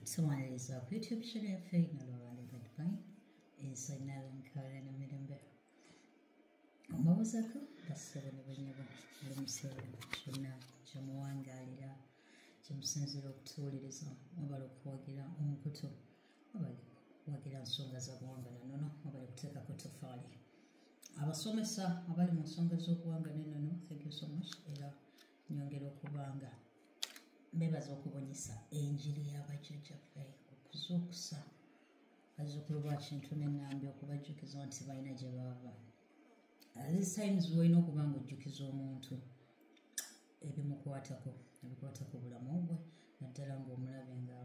So on this uh, YouTube channel, Faye Nalorale Goodbye, is a Nalan Karan Midambe. Omawuzako, basaba ne banyaba, alimusaba, kyonna, kyamuwangaalira, kyamusinzira okutuwuliriza, wabala okuwagira omukutu, wabala okuwagira nsonga za buwanga na nono, wabala okuteeka ku tofaali. Abasomesa abali mu nsonga z'obuwanga ne nono, thank you so much, era nyongera okubanga mbebaza okubunyisa enjiri yabajjajjaffe okuzuukusa bazzukulu ba kintu nenambi okubajjukiza nti balina gye baava times olina okuba nga ojjukiza omuntu ebimukwatako ebikwata ku bulamu bwe naddala ngaomulabe nga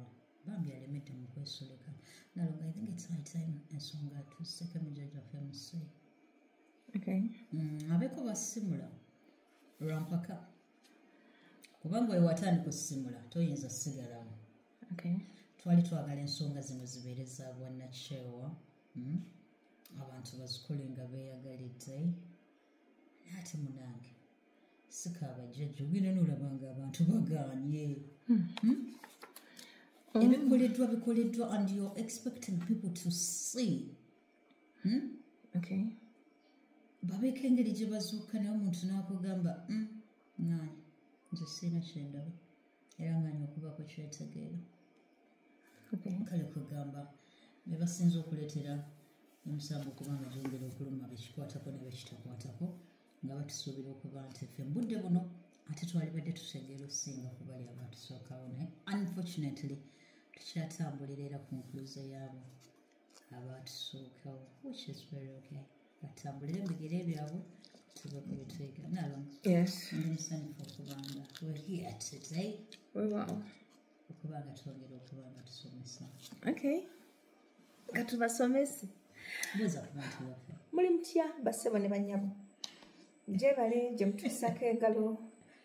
bambi alemedde mu kwesulika naloga i think its high time ensonga tusekemujaja fmc mm, abeko basimula lwampaka kubanga oyo watandika osimula toyinza sigalawo twali twagala ensonga zino zibeere za bwannakyewa hmm? abantu bazikole nga beeyagalidde naate munange sikaabajjajja ogenda noolabanga abantu bagaanye hmm. hmm? ebikoleddwa bikoleddwa and you're expecting people to see hmm? okay. babeeko engeri gye bazuuka naye omuntu n'akugamba hmm, ngani nze siina kyendaba era ngani okubako kyetegeera kale kwegamba be basinza okuleetera omusango okubanga gyongera okuluma bekikwatako ne bekitakwatako nga batusuubira okuba nti ffe mubudde buno ate twalibadde tutegeera okusinga kubali abatusookawo naye unfortunately tukyatambulira era ku nkuluze yaabo abatusookawo which is very okay batambulire mubigere byabwe tuve ku bitwega nalo yes ndi musanyufu okubanga we're here today we wow okubanga twongera okubanga tusomesa okay nga tubasomese buuza ku bantu baffe muli mutya basebo ne banyabo gyebale gye mutuusako engalo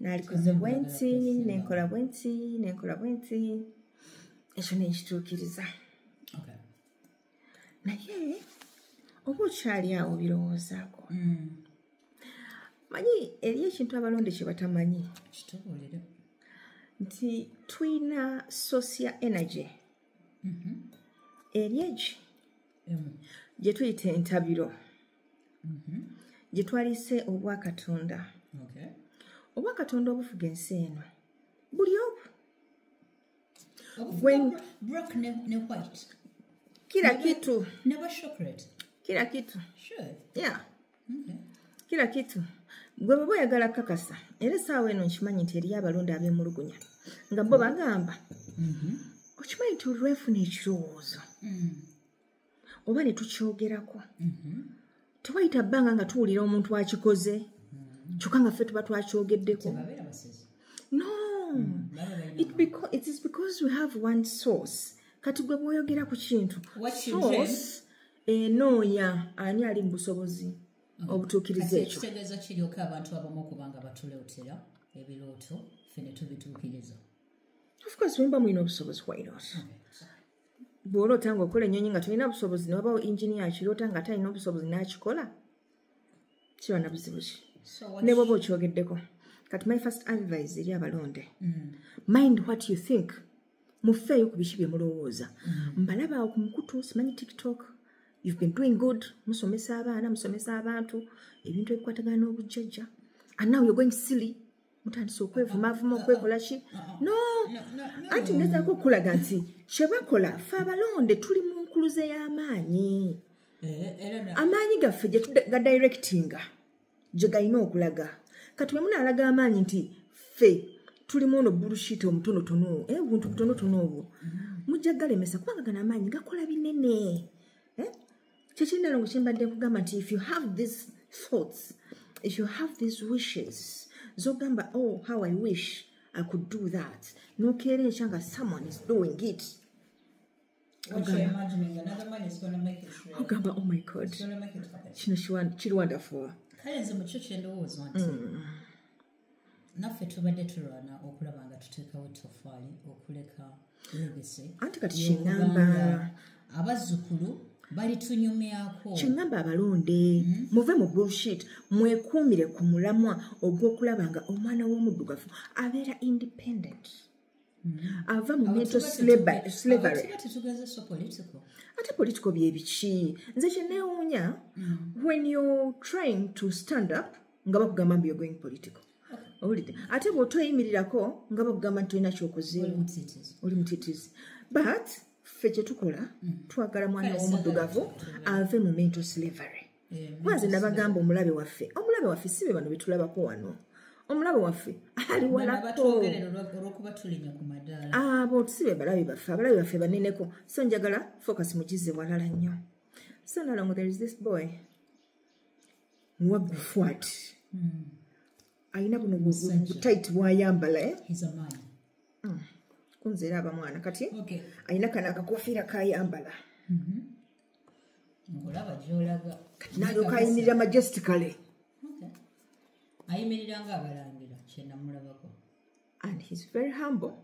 nalikoze bwensi nenkola bwensi nenkola bwensi ekyo nenkituukiriza naye oba okyali awo birowoozaako mm. manyi eri ekintu abalonde kye batamanyi nti tulina sosi ya energy mm-hmm. eri egi gyetuyita entabiro mm-hmm. gye twalise obwakatonda obwakatonda obufuga ensi eno buli obu kila kitu kila kitu yeah kila kitu gwe baba oyagala kakasa era esaawa eno nkimanyi nti eriyo abalonda abemulugunya nga bo bagamba mm-hmm. okimanyi nti olwefuna ekirowoozo mm. oba ne tukyogerako mhm. tewayita bbanga nga tuwulira omuntu akikoze mhm. kyokka nga ffe tuba twakyogeddeko no mm, it because, it is because we have one source kati gwe bwoyogera ku kintu source enoonya ani ali mu busobozi mm. obutuukiriza ekyo kitegeeza kiryoka abantu abamu okubanga batuleotera ebirooto ffe ne tubituukiriza of course wemba mulina obusobozi why not okay. bw'oloota nga okola ennyonyi nga tolina busobozi newabawo inginiya akiroota nga ate alina obusobozi n'akikola kiba na buzibu ki ne bwoba okyogeddeko kati my first advise eri abalonde mm. mind what you think mufeeyo ku biki bye mulowooza mm. mbalaba ku mukutu simanyi tiktok you've been doing good musomesa abaana musomesa abantu ebintu ebikwatagana n'obujjajja and now you're going silly mutandise okwevumaavuma okwekola ki no anti ngezaako okukulaga nti kyebakola fe abalonde tuli mu nkuluze y'amaanyi eh, amaanyi gaffe gyetugadairectinga gye galina okulaga kati bwe munaalaga amaanyi nti ffe tulimu ono bullshit omutonotono owo eh, obuntu butonotono obwo mujja galemesa kubanga gano amaanyi gakola binene eh? kyekyendalo ngu kyembadde kugamba nti if you have these thoughts if you have these wishes zogamba oh how i wish i could do that nokeera ekya nga someone is doing it ogamba oh my god kino kiri wonderful kale nze mukyo kyendowooza nti mm. naffe tubadde tulwana okulaba nga tuteekawo tofaali okuleka legese anti kati kigamba abazzukulu balitunyumyako kigamba abalonde hmm? muve mu bullshit mwekuumire ku mulamwa ogw'okulaba nga omwana w'omuddugavu abeera independent ava mu mental slavery ate political byebiki nze kyenewuunya mm. when you're trying to stand up nga bakugamba mbu you're going political owulidde ate bw'otoyimirirako nga bakugamba nti tolina kyokozeemu oli mutitizi but ffe kyetukola mm. twagala mwana w'omuddugavu ave mu mental slavery kuba nze nabagamba omulabe waffe omulabe waffe si be bano betulabako wano omulabe waffe ali walako abo si be balabe baffe abalabe baffe baneneko so njagala focus mugize walala nnyo so nalongo there is this boy wagufwat hmm. alina buno butayit bwayambala eh? hmm. kunzeera abamwana kati alina kana akakofiira kayambala mm-hmm. ngolaba gyolaga kati nalyoka ayimirira majestically ayimirira nga abalangira kyenamulabako and he's very humble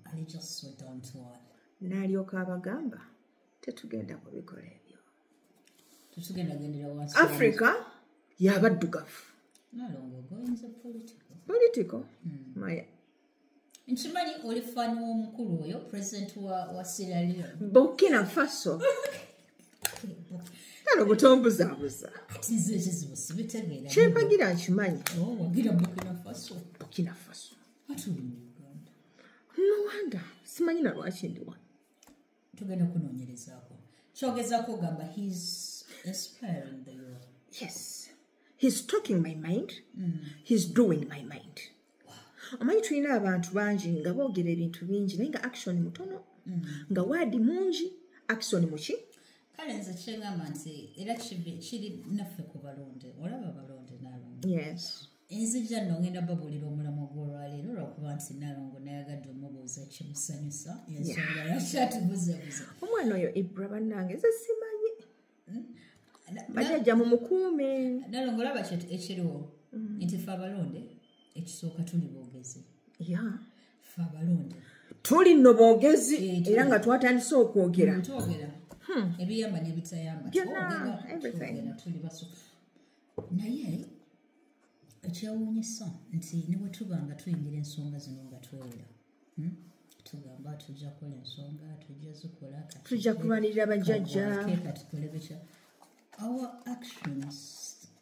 ali just so down to earth nalyoka abagamba tetugenda kubikola ebyo tetugenda gendera wansi africa yabaddugavu nalongo goinza political political mm. my nkimanyi oli fani w'omukulu oyo president wa, wa sierra leone burkina faso kale obutombuzabuza kyempagira nkimanyi oh, burkina faso nowanda simanyi na lwaki ndi wano tugenda kunoonyerezaako kyogezaako ogamba his inspiring the world yes he's talking my mind mm. he's doing my mind omanyi tulina abantu bangi nga boogera ebintu bingi naye nga action mutono mm. nga waadi mungi action muki kale nze kyengamba nti era kiri naffe ku balonde olaba balonde nalonde yes enzija no ngenda babulira omulamu gwolwaleero lwakuba nti nalongo nayagadde omubuuza kimusanyusa ensonga yakyatubuzebuza omwana oyo ibra bannange ze simanyi bajajja mu mukuume nalongo olaba ekiriwo mm. nti fe abalonde ekisooka tuli boogezi fe abalonde tuli no boogezi eh, era nga twatandise okwogera mm, twogera hmm. ebiyamba nebitayamba tuli basufu naye ekyewuunyisa nti newetuba nga tuyingira ensonga zino nga twewera tugamba tujja kola ensonga tujja zikola tujja kubalirira bajjajja katukole bitya our actions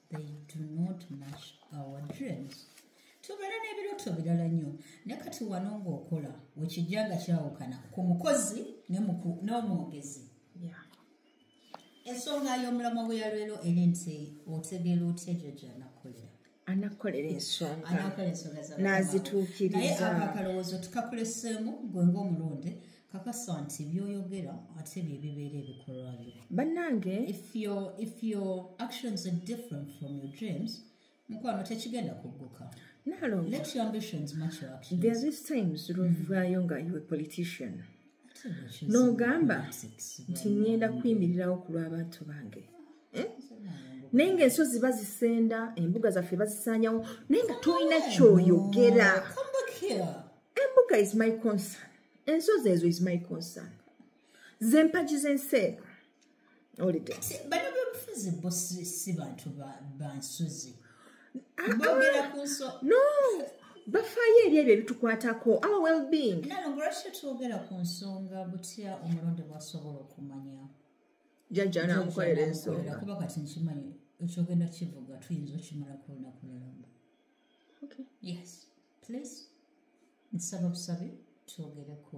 they do not match our dreams tubeera n'ebirooto birala nnyo naye kati wano ng'okola wekijja nga kyawukana ku mukozi n'omwogezi ensonga y'omulamwa gwe yalwero eri nti otegeera otya egyo gyanakolera anakolera ensonganazituukiriza akalowoozo tukakuleseemu gwe ngaomulonde kakasa nti byoyogera ate byebibeera ebikolwa byo bannange if your, if your actions are different from your dreams mukwano tekigenda kugguka thereis times lwovaayo nga iwe politician n'ogamba nti ngenda kuyimirirawo ku lw'abantu bange eh? naye nga ensozi bazisenda embuga zaffe bazisanyawo naye nga tolina kyoyogera embuga is my concern ensozi ezo is my concern zempagi z'ensi ego bano byobufuzi bo si bantu bansozi ah, bogera ah. kunso no bafaayo eri ebyo ebitukwatako our wellbeing nalo ngolwaki twogera ku nsonga butya omulonde bwasobola okumanya jajja namukolera ensonga kuba kati nkimanyi ekyogenda kivuga tuyinza okimala ku lunaku lulamba yes please nsaba busabe twogereko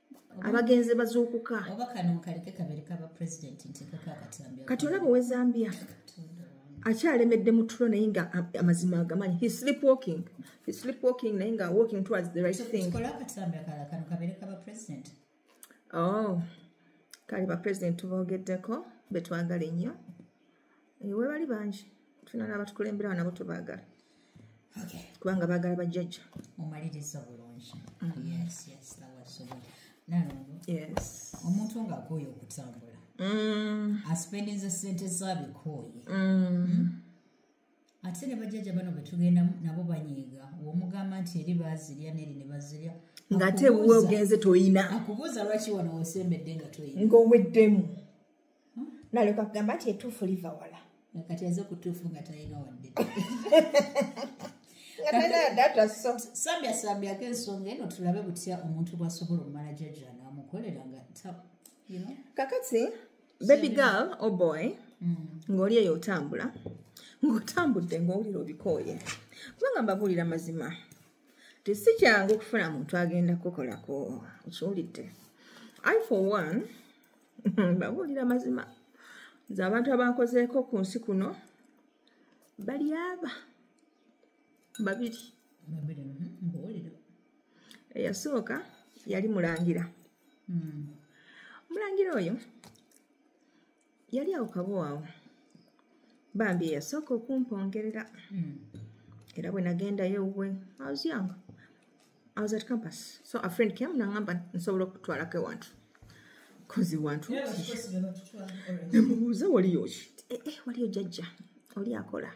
abagenzi bazuukuka kati olaba owe zambia akyalemedde mu tulo naye nga amazima agamanyi he sleep walking he sleep walking naye nga walking towards the right thing oh kale ba president tubogeddeko betwagala ennyo Eh, webali bangi tulina nabatukulemberawo nabo tubagala kubanga bagala bajjajja omaliriza bulungi omuntu nga akooye okutambula mm. asipendinza sente zabikooye mm. hmm? ate ne bajjajja bano betugenda nabo banyiiga womugamba nti eri bazirya neri ne bazirya nga ate wuwe ogenze toyina akubuuza lwaki wano wosembedde nga toyina ngaoweddemu naleka kugamba nti etuufu liva wala kati aze kutuufu nga talina wadde sambyasambyaako ensonga eno tulabe butya omuntu bwasobola omumala jajja namukolera nga kakati baby girl o oh boy mm. ng'oli eyo otambula ng'otambudde ng'owulira obikooye kubanga mbabuulira mazima tesi kyangu okufuna muntu agenda kukolako okiwulidde i for one babuulira mazima nze abantu abankozeeko ku nsi kuno bali aba babiri mhm, eyasooka yali mulangira hmm. omulangira oyo yali awo kabowaawo bambi eyasooka okumpongerera hmm. era bwe nagendayo ewuwe aozyanga I was at campus. So a friend came nangamba nsobola okutwalako ewantu. Cause ewantu. Nemubuuza waliyo ki? Eh eh waliyo jajja. Oli akola.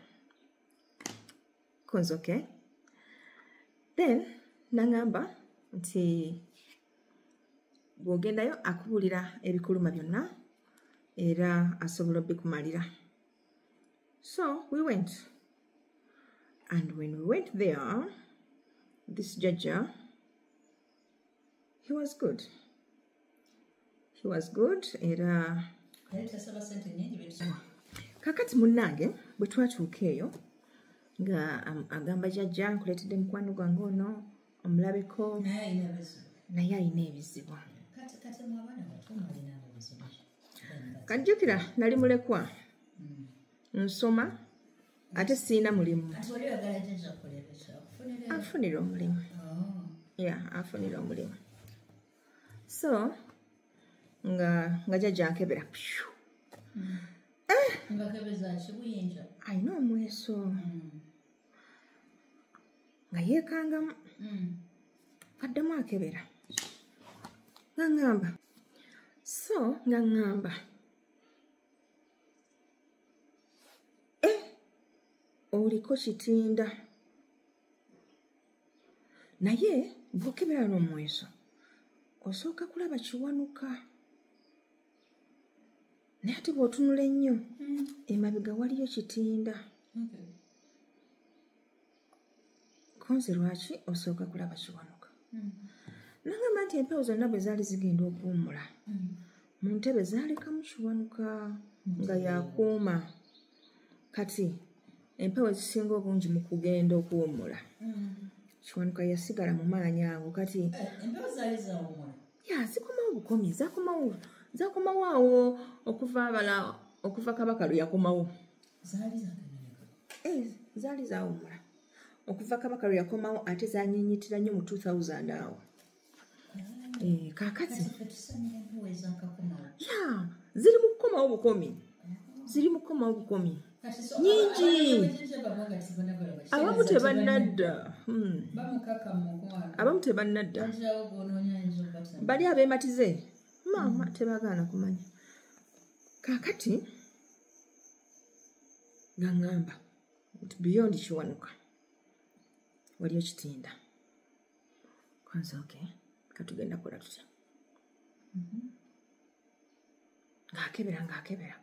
Cause okay. Then nangamba nti bwogendayo akubulira ebikuluma byonna era asobola obikumalira. So we went. And when we went there, this Jaja, he was good. He was good. Era kakati munnange bwe twatuuka eyo nga um, agamba jajja nkuleetedde mukwano gwange ono omulabeko naye alina ebizibu kajjukira nali mulekwa nsoma ate siina mulimu afunira omulimu ya afunira omulimu so nga nga jajankebera pyu alina omweso nga yekangamu addemu akebera nga ŋŋamba so nga ŋŋamba eh, oliko kitinda naye bwokebera n'omweso osooka kulaba kiwanuka naye ati bw'otunula ennyo hmm. emabega waliyo kitinda kunze lwaki osooka kulaba kiwanuka hmm. nagamba nti empewo zonna bwe zaali zigenda okuwumula hmm. mu ntebe zaalekamu kiwanuka hmm. nga yakuuma kati empewo ezisinga obungi mu kugenda okuwumula kiwanuka yasigala mu maanyi ago kati eh, zikomawo bukomi zakomawo awo okuva abala okuva kabaka lwe yakomawo zaali zaganyirika eh, zaali zawumula okuva kabaka lwe yakomawo ate zanyinyitira nnyo mu 2000 awo eh, kakati ya ziri mu kukomawo bukomi ziri mu kukomawo bukomi nyingi abamu tebannadda hmm. abamu tebannadda bali abematize maama hmm. tebagaana kumanya kakati nga ŋŋamba nti beyond kiwanuka waliyo kitinda kanze oke katugenda kola tutya mhm. ng'akebera ng'akebera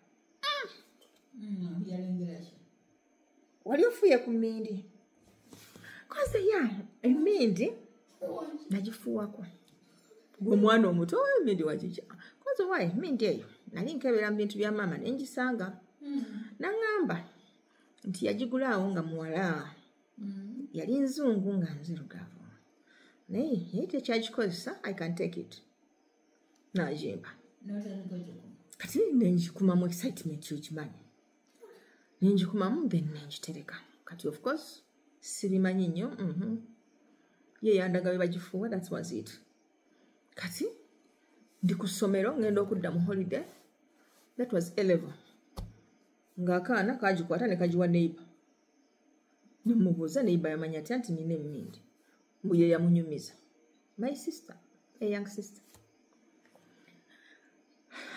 mm. mm, wali ofuye ku mindi koze ya emindi nagifuwako gwe omwana omuto emindi wagija koze wa emindi eyo nali nkebera mu bintu bya maama nengisanga hmm. naŋamba nti yagigulaawo nga muwala hmm. yali nzungu nga nzirugavu naye yali tekyagikozesa i can take it najimba kati nengikumamu excitement yokimanyi nenjikumamu then nenjitereka kati of course sibimanyi nnyo mhm. ye yandaga bwe bagifuuwa that was it kati ndi ku ssomero ngenda okudda mu holiday that was eleven ng'akaana kagikwata ne kagiwa neighbor nemubuuza neighbor yamanya atya nti nina emmindi mbu ye yamunyumiza my sister a young sister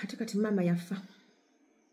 ate kati maama yafa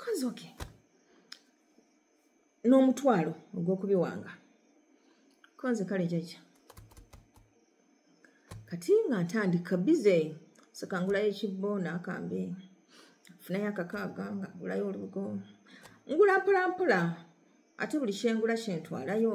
kozi oke n'omutwalo ogw'okubiwanga konze kale jajja kati nga ntandika bize sakangulayo ekibbo n'akambe funayo akakaaga nga ngulayo olubugo ngula mpolampola ate buli kyengula kyentwalayo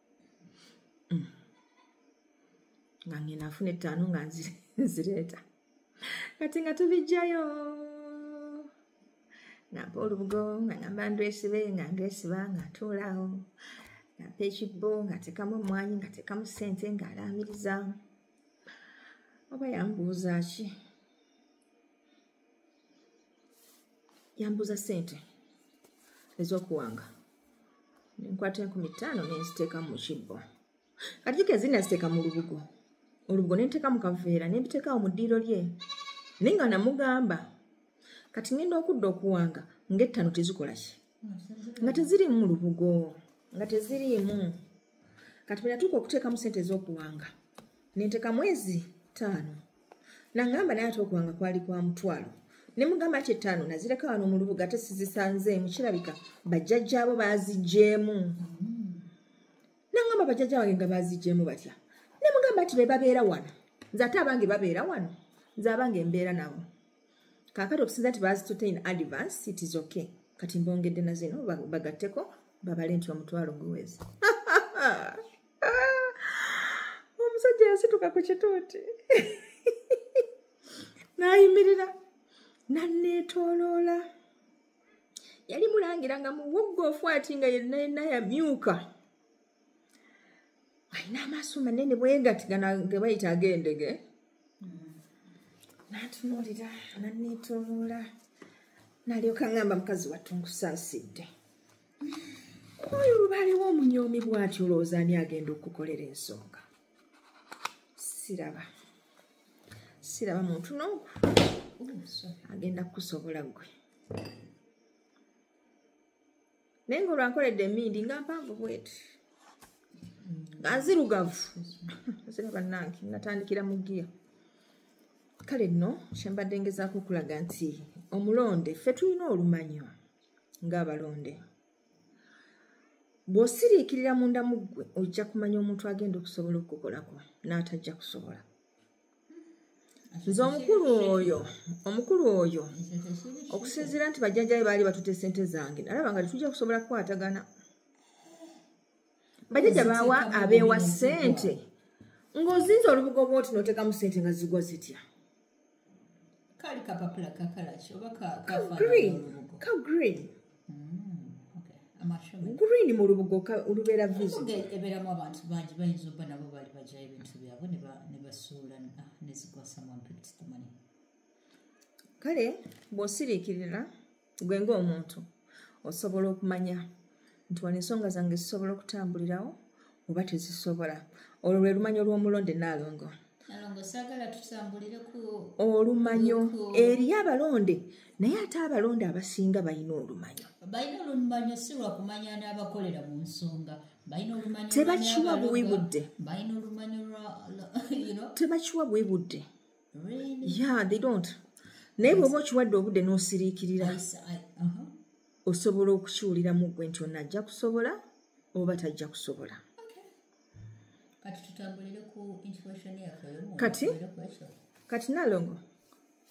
mm. nga ngenda nfuna ettaano nga nzireeta kati nga tubijjayo ngamba olubugo nga ngamba ndwesibe nga ndwesiba nga ntuulaawo ngamba ekibbo nga tekamu omwanyi nga tekamu ssente nga alaamiriza oba yambuuza ki yambuza sente ezokuwanga nenkwata enkumi ttaano nenziteeka mu kibbo kati kika ezina ziteeka mu lubugo olubugo nenteeka mu kaveera nembiteekawo mu ddiiro lye naye nga namugamba kati ngenda okudda okuwanga ngaettaano tezikolaki nga teziriimu mu lubugo nga teziriimu kati bwe natuuka okuteekamu sente ez'okuwanga nenteeka mwezi ttaano nangamba naye ate okuwanga kwali kwa mutwalo ne mugamba nti ettaano nazireka wano mu lubuga ate sizisanzeemu kirabika bajjajjaabo baaziggyemu nangamba bajjajja wange nga baaziggyemu batya ne mugamba nti be babeera wano nze ate abange babeera wano nze abange mbeera nabo kakati okusinza nti bazitute in advance it is okay kati mbongedde na zino bagatteko babale nti omutwalo guwezi omusajja yasituka ku kituuti nayimirira nanneetoloola yali mulangira nga muwuggoofu ati nga yenna yenna yamyuka alina amaaso manene bwegati gana gebayita agendege natunuulira naneetoloola nalyoka ngamba mukazi wattu nkusaasidde oyo lubaliwo omunyoomi bwati olowooza ani agenda okukolera ensonga siraba siraba muntu noomu agenda kukusobola gwe naye nga olwankoledde emindi nga mpanvu bweti nga nzirugavu zira bannange natandikira mu giya kale nno kyembadde ngezaako okulaga nti omulonde ffe tulina olumanyo ng'abalonde bw'osiriikirira munda mu ggwe ojja kumanya omuntu agenda okusobola okukukolako n'atajja kusobola nze omukulu oyo omukulu oyo okusinziira nti bajjajja be baali batuta esente zange nalaba nga tetujja kusobola kukwatagana bajjajja baawa abeewa sente ng'ozinza olubugo bwoti noteekamu sente nga zigwa zitya kali kapapula kakalaki oba kagreen ka green mm, green mu lubugo olubeera visoeberamu abantu bangi bayinza oba nabo bali bajayo ebintu byabwe nebasuula ah, nezigwasamu mpikitikumani kale bwosiriikirira gwe ng'omuntu osobola okumanya nti wano ensonga zange zisobola okutambulirawo oba tezisobola olwo lwe lumanyo lw'omulonde naalongo olumanyo eriyo abalonde naye ate abalonde abasinga balina olumanyo tebakiwa buwi budde yeah they don't naye bwoba okiwadde obudde n'osiriikirira uh-huh. osobola okukiwuliramu gwe nti ono ajja kusobola oba tajja kusobola kati kati nalongo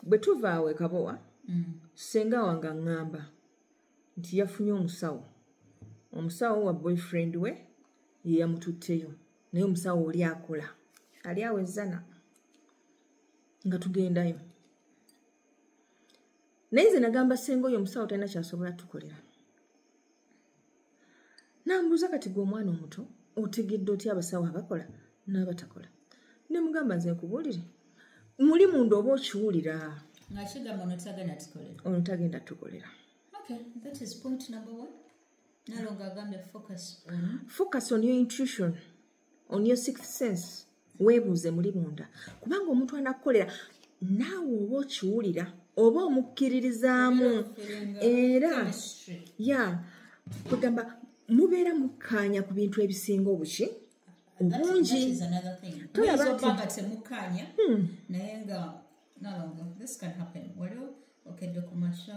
bwe tuva awo ekabowa mm. senga wange aŋŋamba nti yafunye omusawo omusawo wa boyfriend we yeyamututteyo naye omusawo oli akola ali awo ezzana nga tugendayo naye nze nagamba senga oyo omusawo talina kyasobola tukolera nambuuza kati gwe omwana omuto otegedde otya abasawo abakola n'abatakola ne mugamba nze nkubuulire muli munda oba okiwulira ono tagenda tukolera focus on your intuition on your sixth sense weebuuze muli munda kubanga omuntu anakukolera naawe oba okiwulira oba omukkiririzaamu era ya kugamba mubeera mukkaanya ku bintu ebisinga obuki obungi tolabaatemukkaanya hmm. naye nga nalongo this can happen waliwo okedde ku masha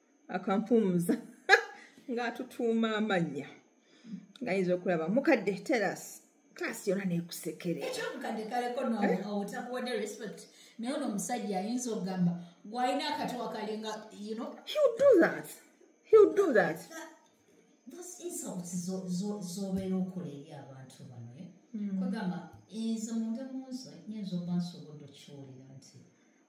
akampumuza ng'atutuuma amannya ngayinza okulaba mukadde teras klasi yona nekusekereomukadde kaleko notakuwadde eh? respect naye ono omusajja ayinza okugamba gwalina akatuwa kalinga you know he'll do that he'll do that those insults zobeera okola eri abantu bano eh? hmm. kwegamba ezo munda munzo nyinza oba nsobodde okiwulira nti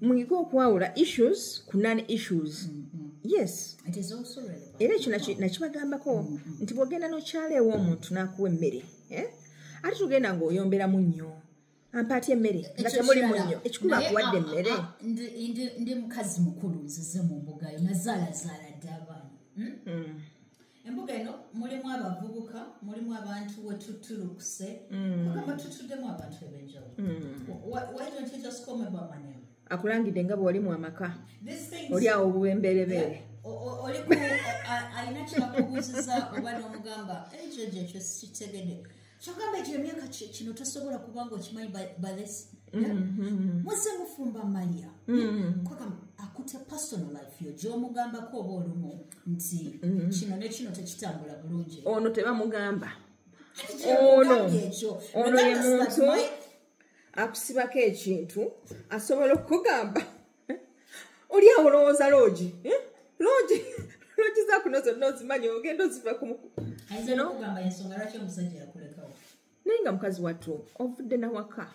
muyige okwawula issues ku non issues mm-hmm. yes era ekyo nakibagambako mm, mm. nti bwogenda nokyala ewa omuntu nakuwa emmere eh? ate tugenda ngaoyomberamu nnyo ampaati emmere nga temuli munnyo ekikulu akuwadde ah, emmere ah, ndi mukazi mukulu nzize mu mbugayo nazaalazaala dde abaana hmm? hmm. embuga eno mulimu abavubuka mulimu abantu wetutulukuse mm. kugamba tutuddemu abantu ebenjawulo mm. akulangidde nga bwewali mu amaka oli awo obuwemberebeere alina kyakubuuziza oba nomugamba ekyo gyekyo sikitegede kyogamba ekyo emyaka kino tosobola kubanga okimanyi balesi mm-hmm. muze mufumba maria mm-hmm. kwagamba akute personal life yo gyomugambako oba olumu nti mm-hmm. kino ne kino tekitambula bulungi ono tebamugamba ono ono ye muntu akusibako ekintu asobola okugamba oli awo olowooza loogi eh? loogi loogi zakuno zonna ozimanyi ogenda oziva naye nga mukazi wattu ovudde nawaka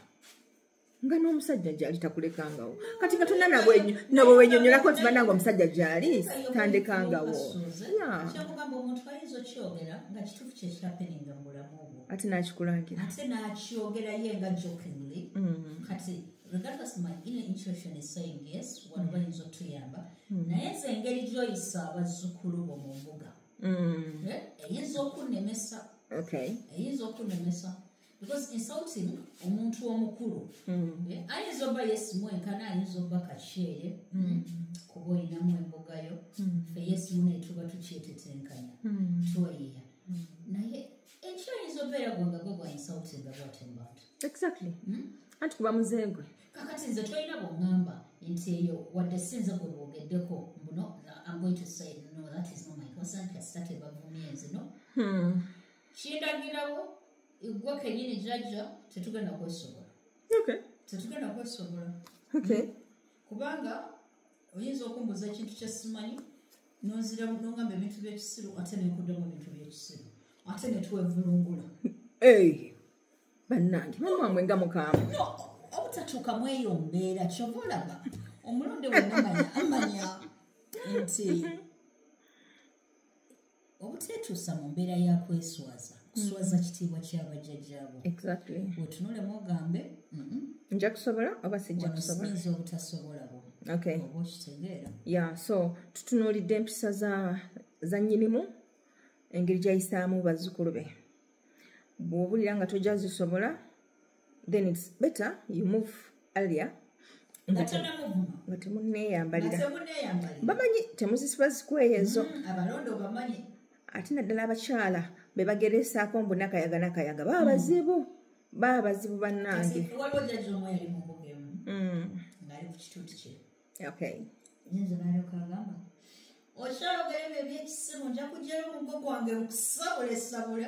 nga n'omusajja gyali takulekangawo kati nga tonna nabwe wenyonyolako nti bananga omusajja gyali tandekangawo ate nakikulangira regardless my inner intuition is saying yes wano mm. bayinza otuyamba mm. naye nze engeri gyoyisa abazzukulu bo mu mbuga mm. eh, eyinza okunemesa eyinza okunemesa because insulting omuntu omukulu eh, ayinza oba yesimu enkana ayinza oba kakyere kuba oyinamu embugayo fe yesimu netuba tukyetetenkanya twayiya naye ekyoyinza obeera gwanga gwe gwayinsautenda bwatyo mu bantu exactly hmm? anti kuba muzengwe kakati nze tolina bwongamba nti eyo wadde sinze gwe bwogeddeko mbuno am going to say no that is not my concern kasita tebavumye nze no hmm. kindagirawo igwe kenyini jajja tetugenda kwesobola tetugenda kwesobola hmm. kubanga oyinza okumbuuza ekintu kyesimanyi nonzira nongamba ebintu byekisiru ate nenkudamu ebintu byekisiru ate netwevulungula bannange mamwamwe nga mukaamu obutatuuka mweyo mbeera kyova olaba omulonde wenamanya amanya nti obuteetuusa mu mbeera ya kweswaza kuswaza mm-hmm. kitiibwa kya bajjajjaabo wetunulemu ogambe mm-hmm. nja kusobola oba sijja kusobolainza obutasobola bo oba okitegeera ya so tutunuulidde empisa za nnyinimu engeri gyayisaamu bazzukulu be bw'obulira nga tojja zisobola then it's better you move earlier nga temuneeyambalira bamanyi temuzisiba zikweyo ezo mm, ate naddala abakyala be bageresaako mbu nakayaga nakayaga baba mm. bazibu baba bazibu bannange okyalo gayebyo ebyekisimu nja kujjayo omugo gwange mukusabulesabule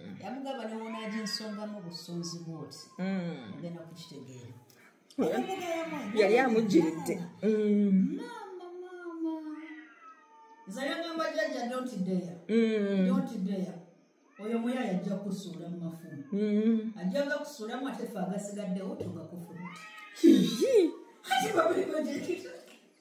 yamugamba newonaaja ensonga mu busunzi bwoti mm. ogenda kukitegeera yali amujiridde mm. maama maama nze yagamba jajja donti deya mm. donti deya oyo muya yajja kusuula mu mafumu ajjaga kusuulamu ate fe agasigaddewo tugakufuluti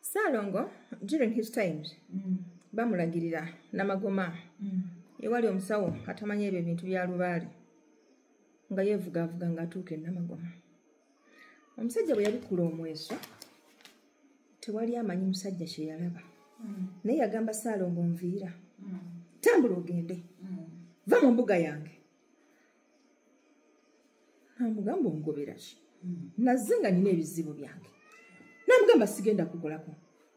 saalongo during his times mm. bamulagirira namagoma mm. ewali omusawo atamanya ebyo ebintu bya lubaale nga yevugavuga nga atuuka enamagoma omusajja bwe yabikula omweso tewali amanyi musajja kyeyalaba mm. naye yagamba saalongo nviira mm. tambula ogende mm. va mu mbuga yange namugamba ongobera ki hmm. nazze nga nina ebizibu byange namugamba sigenda kukolako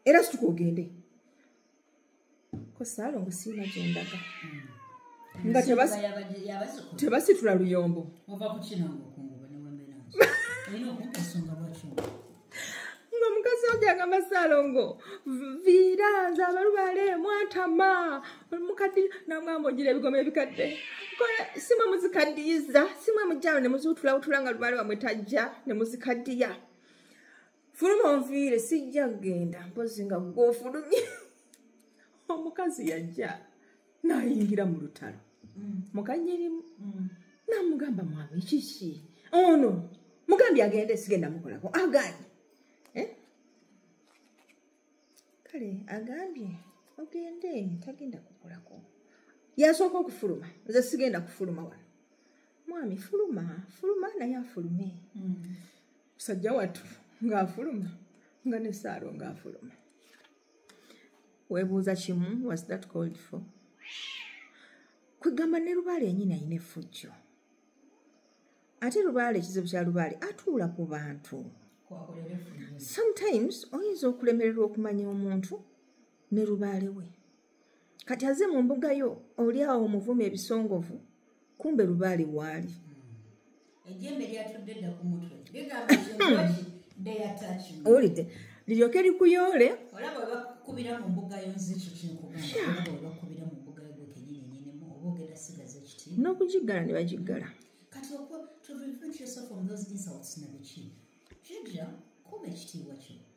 era situka ogende kosaalongo siina gyendaga hmm. nga tebasitula luyombo nga omukazi aja agamba salongo viira nze abalubale mwatama mukaddi namugamba ogira ebigoma ebikadde simwe muzikaddiyiza simwe mujjalo ne muziwutulawutula nga lubale wamwe tajja ne muzikaddiya fuluma onviire sijja kugenda mpozi nga gwofulumye omukazi yajja nayingira mu lutalo mm. mukanyirimu mm. namugamba mwami kiki ono mugambye agenda esigenda mukolako aganye eh? kale agambye ogende tagenda kukolako yasooka okufuluma nze sigenda kufuluma wano mwami fuluma fuluma naye afulume mm. musajja wattu ngaafuluma nga nesaalo ngaafuluma webuuza kimu was that called for kwegamba ne lubaale yenyini ayina efujjo ate lubaale ekizibu kya lubaale atuula ku bantu sometimes oyinza okulemererwa okumanya omuntu ne lubaale we kati aze mu mbuga yo oli awo omuvuma ebisongovu kumbe lubaali waali owulidde liryoke likuyoole n'okugiggala ne bagiggala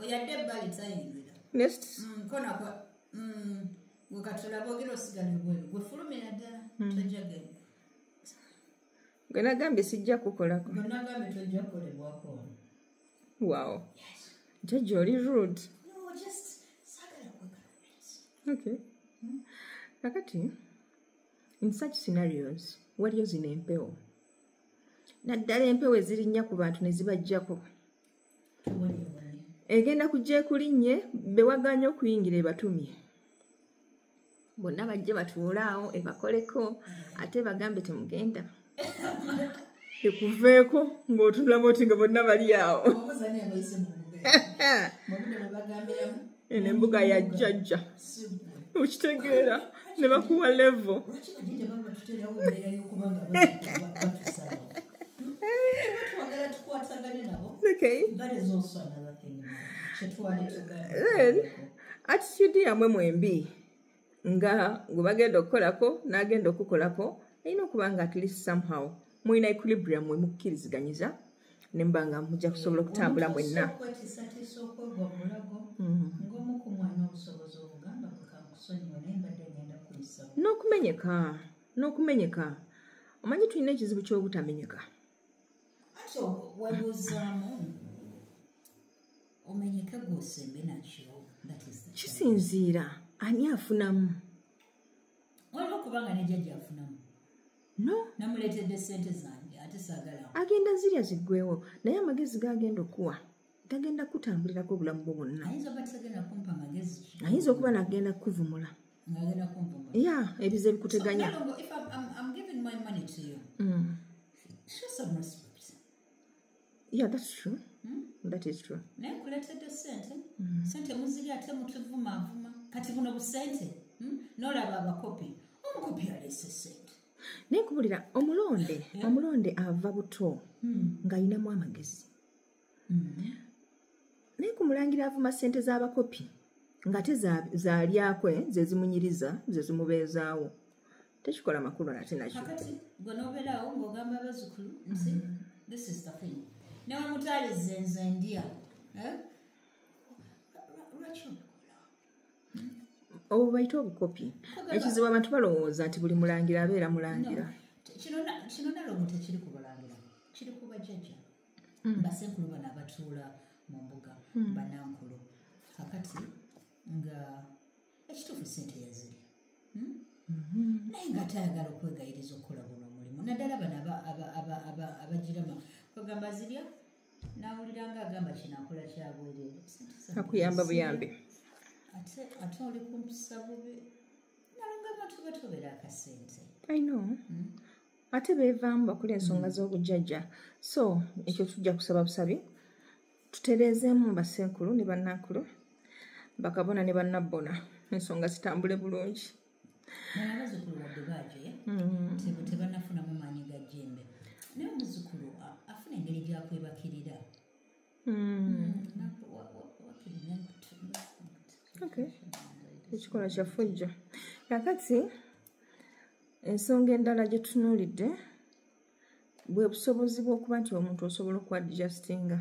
oyadde ebbali tayingira nkona mm, kwa mm, gwe katula bogera osigala ebweru gwe fulumira ddala mm. tojja genda gwe nagambye sijja kukolako gwe nagambye tojja kukolebwako wow jajja oli rude okay hmm? kakati in such scenarios waliyo zino empewo naddala empewo ezirinnya ku bantu ne zibajjako egenda kujja ekulinnye bewaganya okuyingira ebatumye bonna bajje batuulaawo ebakoleko ate bagambe temugenda ekuveeko ng'otunulamu oti nga bonna bali awo eno embuga ya jjajja okitegeera ne bakuwa levo Okay. That is also another thing. attitude yamwe mwembi nga gwe bagenda okukolako n'agenda okukolako alina okuba nga at least somehow mulina equilibrium mwe mukkiriziganyiza ne muba nga mujja kusobola okutambula mwenna mm-hmm. n'okumenyeka n'okumenyeka omanyi tulina ekizibu ky'obutamenyeka ati webuzaamu omenyeke gwosembe nakyo kisinziira ani afunamu waliwo okubanga nejajja afunamu no namuleetedde sente zange ate sagala agenda zirya ziggwewo naye amagezi gagenda okuwa tagenda kutambulirako obulamu bwo bwonna ayinza okuba nagenda kukuvumula ya ebiza ebikuteganya yeah that's true hmm? that is true naye kuletedde sente hmm. sente muziri ate mutuvumavuma kati buno busente hmm? nolaba abakopi omukopi alese sente naye kubulira omulonde omulonde ava buto hmm. ng'alinamu amagezi mm-hmm. naye ku mulangira avuma ssente z'abakopi ngate zalyako eh, zezimunyiriza zezimubeezaawo tekikola makulu nate nakyo newamutaliza enzo endia eh? obwo bayita obukopi ekizibu abantu balowooza nti buli mulangira abeera mulangira kino nalomu tekiri ku bulangira kiri ku bajajja mm. basenkulu bano abatuula mu mbuga mm. banankulu kakati nga ekituufu sente yaziri hmm? mm-hmm. naye nga atayagala okwegayiriza okukola guno omulimu naddala bano abagirama kwegamba zirya nawulira nga agamba kinakola kyabwereereakuyamba buyambi ate oli kumpisa bubi nalonga abantu batobera akasente i know mm? ate beevaamu bakula ensonga mm. z'obujjajja so ekyo tujja kusaba busabi tutereezeemu basenkulu ne bannankulu bakabona ne bannabbona ensonga zitambule bulungi abazukulu wadde baajoya mm. tebanafunamu maanyi ga jembe naye omuzukulu afuna engeri gyakwebakirira ekikola kyafujja kakati ensonga endala gye tutunuulidde bwe busobozi bw'okuba nti omuntu osobola okuadjustinga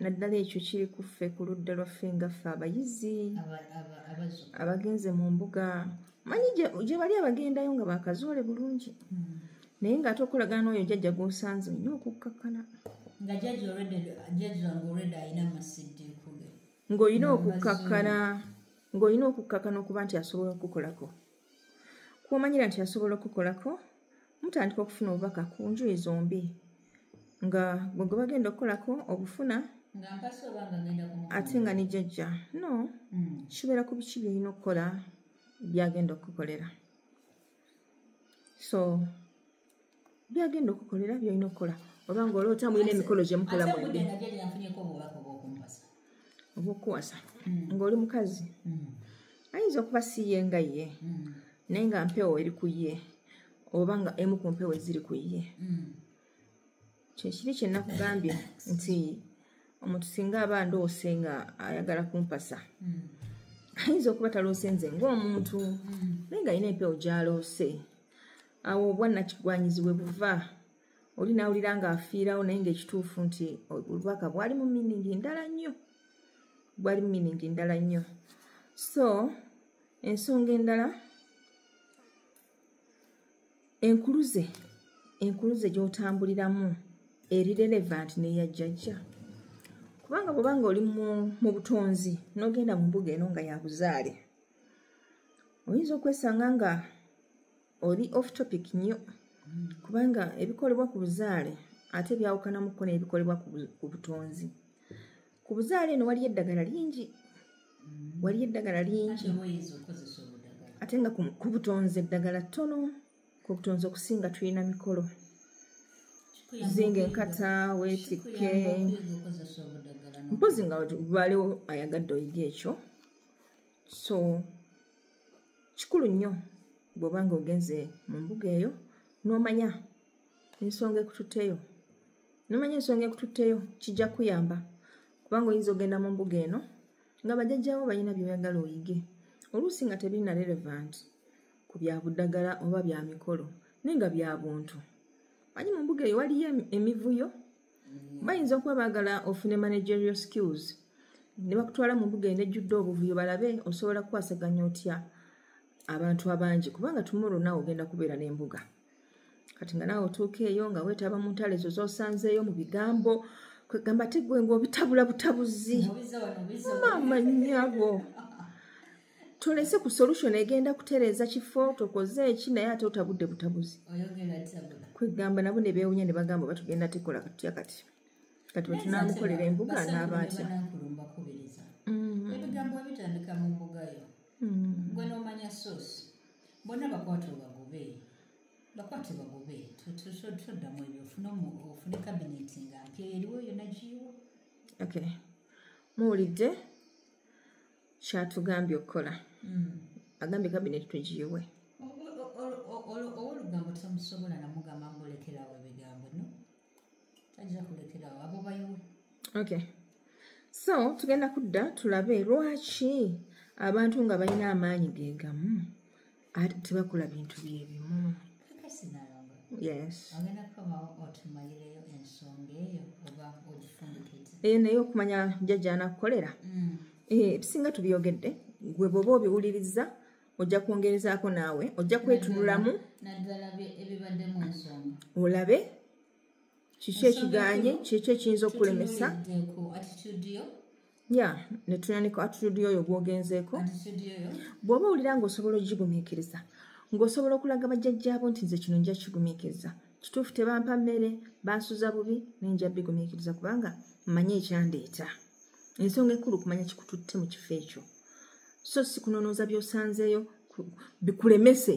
naddala ekyo kiri kuffe ku ludda lwaffe ngaffe abayizi abagenze mu mbuga manyi gye bali abagendayo nga bakazoole bulungi hmm. naye ng'ate okolagana n'oyo jajja gwosanze olina okukkakkana nga jaji already jaji wange already alina amasidde kuge ng'olina okukkakkana ng'olina okukkakkana okuba nti asobola okukolako kwomanyira nti asobola okukolako mutandika okufuna obubaka ku njuyi zombi nga gwe gwe bagenda okukolako obufuna ate nga nijajja no hmm. kibeera ku biki byolina okukola byagenda okukukolera so byagenda okukolera byolina okukola oba nga oloota mulina emikolo gyemukola mwembi obwokuwasa hmm. ngaoli mukazi hmm. ayinza okuba siye nga ye hmm. naye nga mpewo eri ku ye oba nga emu ku mpewo eziri ku ye kyekiri kyenakugambye nti omuntu singa aba ndoose nga ayagala kumpasa ayinza okuba taloose nze ngaomuntu naye nga alina empewo gyaloose awo obwannakigwanyizi we buva oli nawulira nga afiirawo naye ngaekituufu nti obubaka bwali mu miningi ndala nnyo bwali mu miningi ndala nnyo so ensonga endala enkuluze enkuluze gyotambuliramu eri relevant neya jjajja kubanga bwobanga oli mu butonzi nogenda mu mbuga eno nga yabuzaale oyinza okwesanga nga oli off topic nnyo kubanga ebikolebwa ku buzaale ate byawukanamuko n'ebikolebwa ku butonzi ku buzaale eno waliyo eddagala lingi waliyo eddagala lingi ate nga ku butonzi eddagala ttono ku butonzi okusinga tulina mikolo zinga enkata wetikke mpozi nga baliwo ayagadde oyiga ekyo so kikulu nnyo bw'oba nga ogenze mu mbuga eyo n'omanya ensonga ekututteyo nomanya ensonga ekututteyo kijja kuyamba kubanga oyinza ogenda mu mbuga eno nga bajajjawo balina byoyagala oyige oluusi nga tebirina relevant ku bya buddagala oba bya mikolo naye nga bya buntu manyi mu mbuga eyo waliyo emivuyo bayinza okuba baagala ofune managerial skills ne bakutwala mu mbuga eno ejjudde obuvuyo balabe osobola kukwasaganya otya abantu abangi kubanga tumoro naawe ogenda kubeera n'embuga kati nga naawe otuuka eyo nga weetaba mu ntalo ezo z'osanzeeyo mu bigambo kwegamba tegwe ngaobitabula butabuzi maama nyabo tolese ku solution egenda kutereeza kifo tokoze eki naye ate otabudde butabuzi kwegamba nabo ne beewunya ne bagamba batugenda tekola katutya kati kati wetunamukolera embuga naaba atya mm. ebigambo ebitandika mu mbugayo mm. gwe nomanya sosi bona bakwata obagobe bakwate bagobe toddamu ebyo ofune kabineti nga mpya eriwo yona giiwo okay muwulidde kyatugambye okukola mm. agambye kabineeti tugiyiwe olugambo tomusobola namugamba mulekerawo ebigambo no tajja kulekerawo abo bayiwe okay so tugenda kudda tulabe lwaki abantu nga balina amaanyi gegamu ate tebakola bintu byebimu eyo naye okumanya jajja anakukolera mm. eh, ebisinga tubyogedde gwe bwoba obiwuliriza ojja kwongerezaako naawe ojja kwetunulamu olabe kiki ekiganye kiki ekiyinza okukulemesa ya netunanika atitude yoyo gwogenzeeko bw'oba owulira ngaosobola okugigumiikiriza ng'osobola okulaga bajjajjaabo nti nze kino nja kigumiikiriza kituufu tebampa mmere bansuza bubi naye nja bigumiikiriza kubanga mmanyi ekyandeeta ensonga enkulu kumanya kikututte mu kifo ekyo so sikunonooza byosanzeeyo bikulemese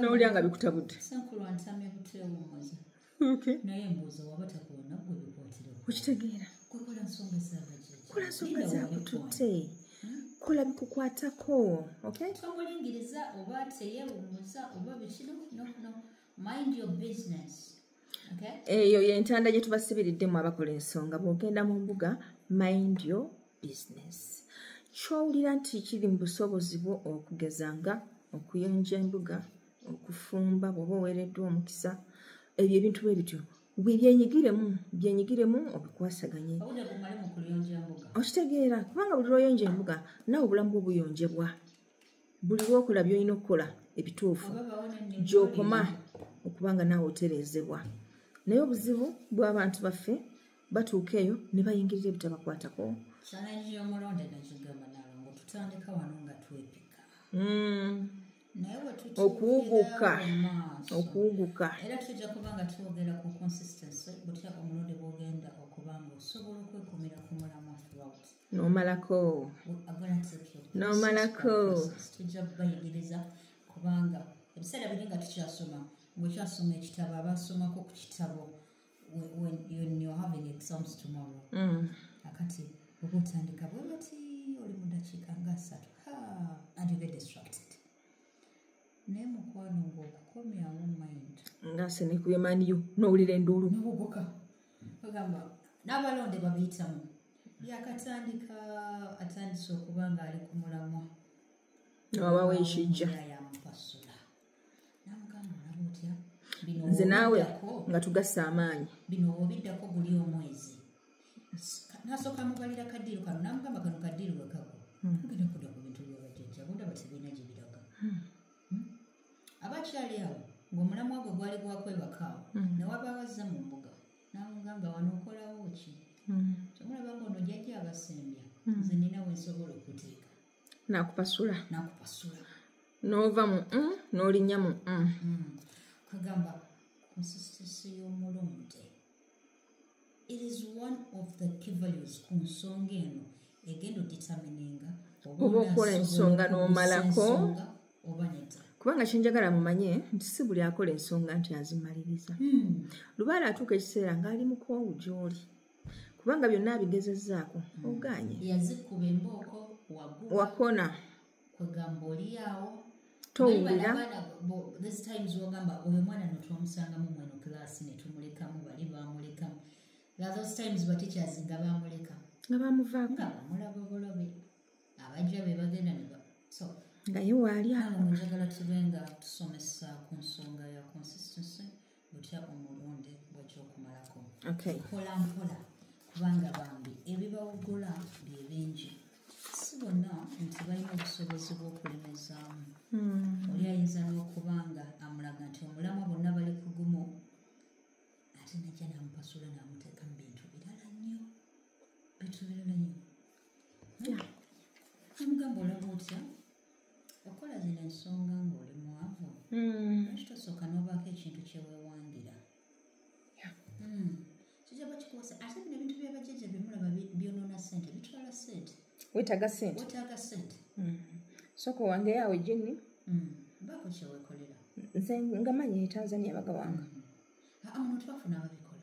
nowulira nga bikutabudde naye mbuuza waba takuwona gwe bikwatira okitegeera kola nsonga zakola nsonga zakututte kola bikukwatako tomulingiriza oba teyewumuza oba bikino nokuno mind your business eyo yentanda gye tubasibiriddemu abakola ensonga bwogenda mu mbuga mind your business kyowulira nti kiri mu busobozi bwo okugeza nga okuyonja embuga okufumba bwoba oweereddwa omukisa ebyo ebintu bwe bityo byenyigiremu byenyigiremu obikwasaganye okitegeera kubanga buli lwoyonja embuga nawe obulamu bwo buyonjebwa buli lwokola byolina okukola ebituufu gyokoma okuba nga naawe otereezebwa naye obuzibu bw'abantu baffe batuuka eyo ne bayingirira ebitabakwatako okuwuguka okuwuguka era tujja kuba nga twogera ku consistency butya omulonde bwogenda okuba nga osobola okwekumira ku mulamu throughout nomalako nomalako tujja kubayigiriza kubanga ebiseera biri nga tukyasoma ngaokyasoma ekitabo abasomako ku kitabo when you're having exams tomorrow mm. akati okutandika bwe bati oli mu dakiika nga asatu and you get distracted naye mukwano ngaokukomyawo mind nga senekubemaniyo nowulira enduulu nobuguka bagamba n'abalonde babiyitamu yakatandika atandise okuba ng'ali ku mulamwa abawa ekijja yamupasula namugamba olaba otya nze naawe nga tugassa amaanyi bino obiddako guli omwezi nasooka mubalira kadiiro kano namugamba kano kadiiro wekako hmm. ogenda kuda ku bintu byabajajja bondaba tebirina gye biraga hmm. aba akyali awo ng'omulamwa gwe gwali gwakwebaka awo mm. ne wabaawo azze mu mbuga n'amugamba wano okolawo ki mm. kyomulaba nga ono jajja abasembya mm. nze nina wensobola okuteeka nakupasula nakupasula n'ova mu m n'olinnya mu m kwegamba konsistisi y'omulumde it is one of the key values ku nsonga eno egenda odetermininga oba okola ensonga n'omalako oba nedda kubanga kyenjagala mumanye nti si buli akola ensonga nti azimaliriza hmm. lubaala atuuka ekiseera ng'ali mukoowu gy'oli kubanga byonna abigezezzaako hmm. oganye wakona kwegamba oliawo towulira this times wogamba oyo mwana notwamusangamu mweno class netumulekamu bali bamulekamu those times bateachers nga bamuleka nga bamuvako nga bamulaba bulabe abajja be bagenda ne so nga ye waali awo njagala tube nga tusomesa ku nsonga ya consistency butya omulonde bwekyokumalako mpola mpola kubanga bambi ebibawugula bye bingi si bonna nti balina obusobozi bw'okulemezaamu hmm. oli ayinza n'okuba nga amulaga nti omulamwa bonna bali kugumu ate najja namupasula namuteeka mu bintu birala nnyo bintu birala nnyo amugamba olaba otya okukola zino ensonga ng'oli mwavu hmm. lwaki tosooka n'obaako ekintu kyeweewangira hmm. kijja ba kikuwasa ate bino ebintu byabajjajja byemulaba byonoona sente bitwala sente wetaaga sente wetaaga sente hmm. soka owangeyo awo ejinni baako kyewekolera nze ngamanyi etanzania bagawanga amuno tubafuna ababikola